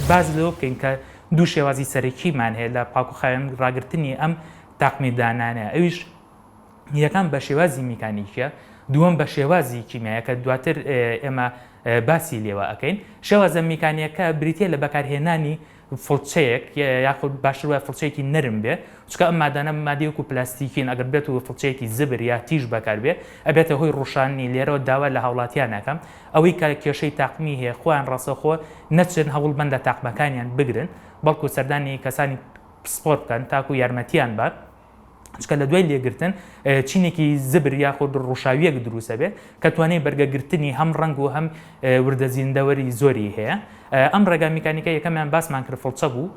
باس لەوە بکەین کە دوو شێوازی سەرەکیمان هەیە لە پاک و خاوێن ڕاگرتنی ئەم تاقمی دانانە ئەویش یەکان بە شێوازی میکانیکە دووەم بە شێوازی کیمیایە کە دواتر ئێمە باسی لێوە ئەەکەین شێوازە میکانیەکە بریتە لە بەکارهێنانی فڵچەیەک یاخود باشتر وای فڵچەیەکی نرم بێ چکە ئەم مادانە مادیوک و پلاستیکین ئەگەر بێت و فڵچەیەکی زبر یا تیژ بەکار بێ ئەبێتە هۆی ڕوشاننی لێرەوە داوا لە هاوڵاتیانەکەم ئەوەی کە کێشەی تاقمی هەیە خۆیان ڕاستەوخۆ نەچن هەوڵ بەن لە تاقمەکانیان بگرن بەڵکو سەردانی کەسانی پسپۆر بکەن تاکو یارمەتیان بەن چکە لە دوای لێگرتن چینێکی زبر یاخود ڕوشاویەک دروست ئەبێت کە توانای بەرگە گرتنی هەم ڕەنگ و هەم وردە زیندەوەری زۆری هەیە ئەم ڕێگا میکانیکە یەکەمیان باسمان کرد فڵچە بوو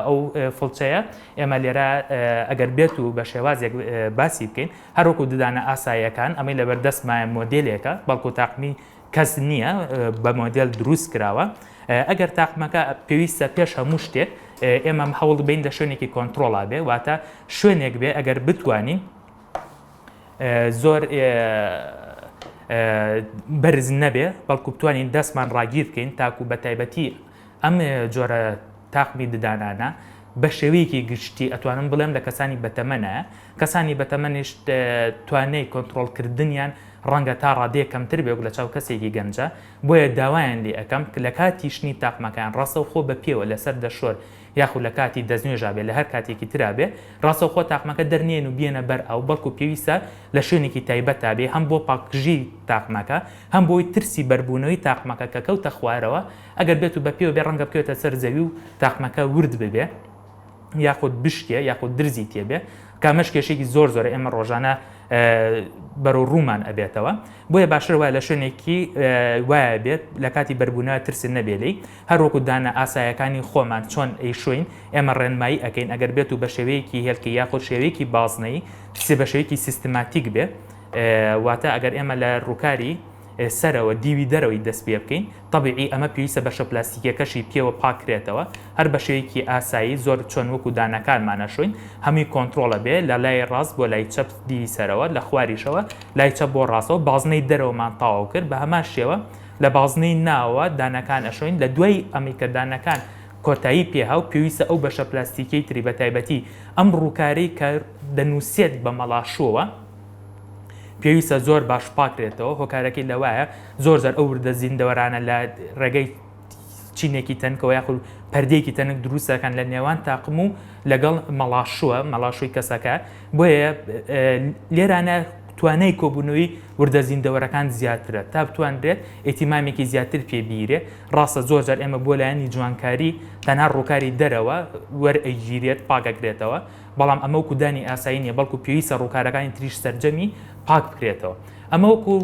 ئەو فڵچەیە ئێمە لێرە ئەگەر بێت و بە شێوازێک باسی بکەین هەر وەکو ددانە ئاساییەکان، ئەمەی لەبەر دەستمایە مۆدێلێکە، بەڵکو تاقمی کەس نییە، بە مۆدێل دروست کراوە. ئەگەر تاقمەکە پێویستە پێش هەموو شتێک ئێمەم هەوڵ بین لە شوێنێکی کۆنترۆڵا بێ، واتە شوێنێک بێ ئەگەر بتوانین زۆر بەرز نەبێ، بەڵکو بتوانین دەستمان ڕاگیر بکەین تاکو بە تایبەتی، ئەم جۆرە تاقمی ددانانە بەشێوەیەکی گشتی ئەتوانم بڵێم لە کەسانی بەتەمەنە، کەسانی بەتەمەنیش توانای کۆنتڕۆڵکردنیان ڕەنگە تا ڕادەیەک کەمتر بێ وەک لە چاو کەسێکی گەنجە، بۆیە داوایان لێ ئەکەم لە کاتی شنی تاقمەکەیان ڕاستەوخۆ بە پێوە لەسەر دەشۆر یاخود لە کاتی دەستنوێژا بێ لە هەر کاتێکی ترا بێ ڕاستەوخۆ تاقمەکە دەرنێن و بیێنە بەر ئاو بەڵکو پێویستە لە شوێنێکی تایبەتا بێ هەم بۆ پاکژی تاقمەکە هەم بۆی ترسی بەربوونەوەی تاقمەکە کە کەوتە خوارەوە ئەگەر بێت و بە پێوە بێ ڕەنگە بکەوێتە سەر زەوی و تاقمەکە ورد ببێ یاخود بشکێ یاخود درزی تێبێ کامەش کێشێکی زۆر زۆر ئێمە ڕۆژانە بەرەو ڕوومان ئەبێتەوە بۆیە باشتر وایە لە شوێنێکی وایە بێت لە کاتی بەربوونە ترسن نەبێلی هەروەکو دانە ئاسایەکانی خۆمان چۆن ئەی شوین ئێمە ڕێنمایی ئەەکەین ئەگەر بێت و بە شێوەیەکی هێلکە یاخۆ شێوەیەکی بازنەی سێ بە شێوەیەکی سیستماتیک بێت واتە ئەگەر ئێمە لە ڕووکاری سەرەوە دیوی دەرەوەی دەست پێ بکەین تەبیعی ئەمە پێویستە بەشە پلاستیکیەکەشی پێوە پاک کرێتەوە هەر بەشێوەیەکی ئاسایی زۆر چۆن وەکو دانەکانمان ئەشۆین هەمووی کۆنترۆڵە بێ لە لای ڕاست بۆ لای چەپ دیوی سەرەوە لە خواریشەوە لای چەپ بۆ ڕاستەوە بازنەی دەرەوەمان تاواو کرد بە هەمان شێوە لە بازنەی ناوەوە دانەکان ئەشۆین لە دوای ئەمەی کە دانەکان کۆتایی پێ هاو پێویستە ئەو بەشە پلاستیکیەی تری بە تایبەتی ئەم ڕووکارەی کە دەنووسێت بە مەڵاشووەوە پێویستە زۆر باش پاکرێتەوە هۆکارەکەی لەوایە زۆر زار ئەو وردە زیندەوەرانە لە ڕێگەی چینێکی تەنکەوە یاخود پردێکی تەنک دروستەکان لە نێوان تاقم و لەگەڵ مەڵاشووە مەڵاشووی کەسەکە بۆیە لێرانە توانای کۆبوونەوەی وردە زیندەوەرەکان زیاترە تا بتوانرێت ئیتیمامێکی زیاتر پێبیرێ ڕاستە زۆر جار ئێمە بۆ لایەنی جوانکاری تەنها ڕووکاری دەرەوە وەرئەگیرێت پاکەکرێتەوە بەڵام ئەمە وەکو دانی ئاسایی نیە بەڵکو پێویستە ڕووکارەکانی تریش سەرجەمی پاک بکرێتەوە ئەمە وەکو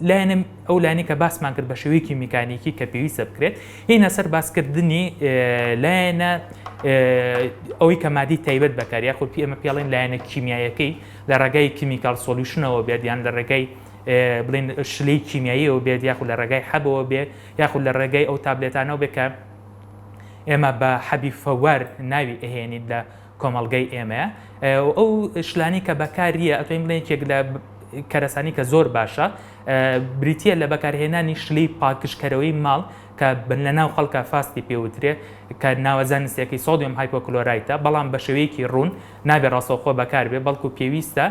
لایەنە ئەو لانی کە باسمان کرد بە شێوەیەکی میکانیکی کە پێویستە بکرێت هینە سەر باسکردنی لایەنە ئەوەی کە مادی تایبەت بەکار یاخود پی ئەمە پێڵین لایەنە کیمیایەکەی لە ڕێگای کیمیکال سۆلیوشنەوە بێت یان لە ڕێگای بڵین شلەی کیمیاییەوە بێت یاخود لە ڕێگای حەبەوە بێت یاخود لە ڕێگای ئەو تابلێتانەوە بێت کە ئێمە بە حەبی فەوەر ناوی ئەهێنیت لە کۆمەڵگەی ئێمەیە ئەو شلانی کە بەکاریە ئەتوین بڵێ یەکێک لە کەرەسانی کە زۆر باشە بریتە لە بەکارهێنانی شلی پاکشکەرەوەی ماڵ کە بن لە ناو خەڵکە فاستی پێوترێ کە ناوەزان نسیەکەی سۆدیۆم هایپۆکلۆرایتە بەڵام بە شێوەیەکی ڕوون نابێ ڕاستەوخۆ بەکاربێ بەڵکو پێویستە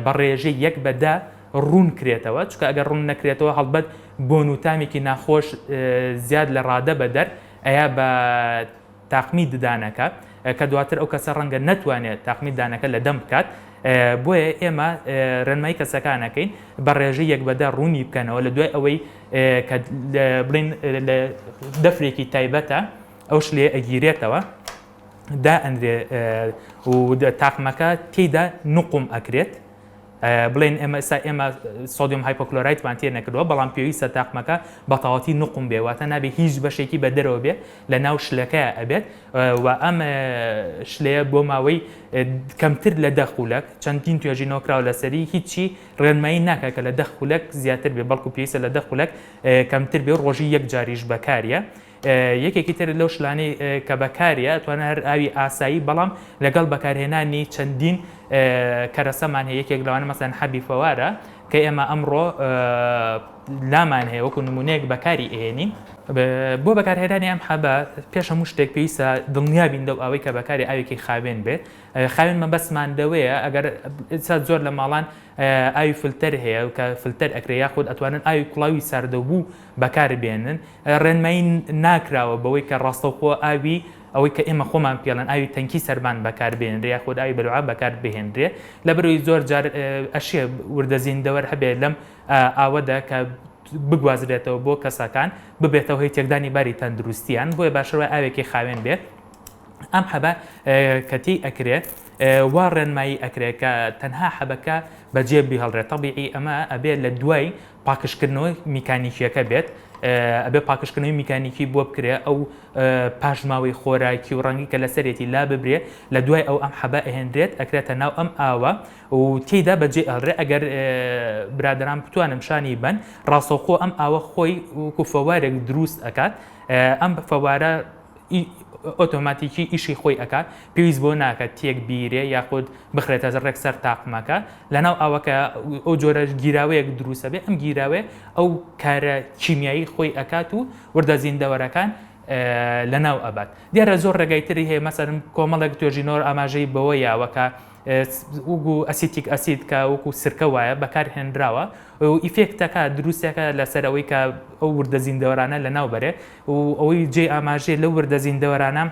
بە ڕێژەی یەک بەدا ڕوون کرێتەوە چونکە ئەگەر ڕوون نەکرێتەوە هەڵبەت بۆن و تامێکی ناخۆش زیاد لە ڕادە بە دەر ئەیا بە تاقمی ددانەکە کە دواتر ئەو کەسە ڕەنگە نەتوانێت تاقمی دانەکە لە دەم بکات بۆیە ئێمە ڕێنمای کەسەکانەکەین بە ڕێژە یەک بەدە ڕوونی بکەنەوە لە دوای ئەوەی بڵین لە دەفرێکی تایبەتە ئەو شلێ ئەگیرێتەوە دا ئەندێ و تاقمەکە تێدا نقم ئەکرێت بڵێن ئێمە ئێستا ئێمە سۆدیۆم هایپۆکلۆرایتمان تێ نەکردووە بەڵام پێویستە تاقمەکە بە تەواتی نقم بێ واتە نابێ هیچ بەشێکی بە دەرەوە بێ لە ناو شلەکە ئەبێت و ئەم شلەیە بۆ ماوەی کەمتر لە دە خولەک چەندین توێژینەوە کراوە لەسەری هیچی ڕێنمایی ناکە کە لە دە خولەک زیاتر بێ بەڵکو پێویستە لە دە خولەک کەمتر بێ ڕۆژی یەک جاریش بەکاریە یەکێکی تر لەو شلانەی کە بەکاریە توانە هەر ئاوی ئاسایی بەڵام لەگەڵ بەکارهێنانی چەندین کەرەسەمان هەیە یەکێک لەوانە مەسەن حەبی فەوارە کە ئێمە ئەمڕۆ لامان هەیە وەکو نمونەیەک بەکاری ئێنین بۆ بەکارهێنانی ئەم حەبە پێش هەموو شتێک پێویستە دڵنیابین لەو ئەوەی کە بەکاری ئاوێکی خاوێن بێت خاوێن مەبەستمان دەوەیە ئەگەر ئستا زۆر لە ماڵان ئاوی فلتەر هەیە و کە فلتەر ئەکرێ یاخود ئەتوانن ئاوی کوڵاوی ساردەبوو بەکاربێنن ڕێنمایی ناکراوە بەوەی کە ڕاستەوخۆ ئاوی ئەوەی کە ئێمە خۆمان پێڵێن ئاوی تەنکی سەربان بەکار بهێنرێ یاخود ئاوی بەلوعە بەکار بهێنرێ لەبەرەوەی زۆر جار ئەشێ وردە زیندەوەر هەبێ لەم ئاوەدا کە بگوازرێتەوە بۆ کەسەکان ببێتەوە هی تێکدانی باری تەندروستیان بۆیە باشتر وای ئاوێکی خاوێن بێت ئەم حەبە کە تێی ئەکرێت وا ڕێنمایی ئەکرێت کە تەنها حەبەکە بەجێ بهڵرێت تەبیعی ئەمە ئەبێت لە دوای پاکژکردنەوە میکانیکیەکە بێت ئەبێ پاکژکردنەوەی میکانیکی بۆ بکرێ ئەو پاشماوەی خۆراکی و ڕەنگی کە لەسەرێتی لا ببرێ لە دوای ئەو ئەم حەبە ئەهێنرێت ئەکرێتە ناو ئەم ئاوە و تێدا بەجێ ئەڵرێ ئەگەر برادران بتوانم شانی بن ڕاستەوخۆ ئەم ئاوە خۆی وکو فەوارێک دروست ئەکات ئەم فەوارە ی ئۆتۆماتیکی ئیشی خۆی ئەکات پێویست بەوە ناکات تێک بیرێ یاخود بخرێتە ڕێک سەر تاقمەکە لەناو ئاوەکە ئەو جۆرە گیراوەیەک دروست ئەبێ ئەم گیراوەیە ئەو کارە کیمیایی خۆی ئەکات و وردە زیندەوەرەکان لەناو ئەبات دیارە زۆر ڕێگای تری هەیە مەسەرم کۆمەڵێک توێژینەوە ئاماژەی بەوە یاوە کە وگو ئەسیتیک ئەسید کە وەکو سرکە وایە بەکارهێنراوە و ئیفێکتەکە دروستەکە لەسەر ئەوەی کە ئەو وردە زیندەوەرانە لەناو بەرێ و ئەوەی جێی ئاماژەیە لەو وردە زیندەوەرانە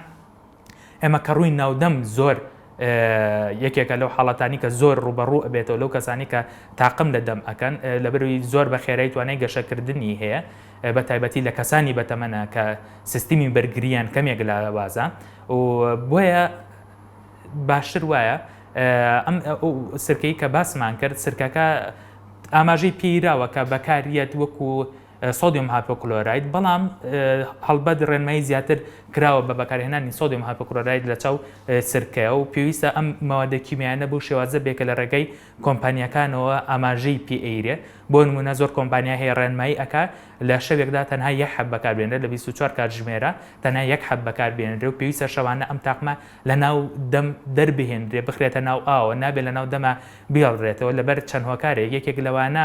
ئێمە کە ڕووی ناودەم زۆر یەکێکە لەو حاڵەتانی کە زۆر ڕوبەڕوو ئەبێتەوە لەو کەسانی کە تاقم لە دەم ئەەکەن لە بروی زۆر بە خێرای توانای گەشەکردنی هەیە بە تایبەتی لە کەسانی بەتەمەە کە سیستمی بەرگریان کەمێک لە وازە و بۆیە باشتر وایە ئەم سرکەی کە باسمان کرد سرکەکە ئاماژەی پیراوە کە بەکاریت وەکو سۆدیۆم هاپۆکلۆراید، بەڵام هەڵبەت ڕێنمایی زیاتر کراوە بە بەکارهێنانی سۆدیۆم هاپۆکلۆراید لە چاو سرکەیە و پێویستە ئەم مەوادە کیمیایانە بەو شێوازە بێ کە لە ڕێگای کۆمپانیاکانەوە ئاماژەی پێ ئەیرێ بۆ نموونە زۆر کۆمپانیا هەیە ڕێنمایی ئەکا لە شەوێکدا تەنها یەک حەب بەکار بێنرێ لە بیست و چوار کاتژمێرە تەنها یەک حەب بەکار بێنرێ و پێویستە شەوانە ئەم تاقمە لە ناو دەم دەربهێنرێ بخرێتە ناو ئاوەوە نابێ لە ناو دەما بیڵرێتەوە لەبەر چەند هۆکارێک یەکێک لەوانە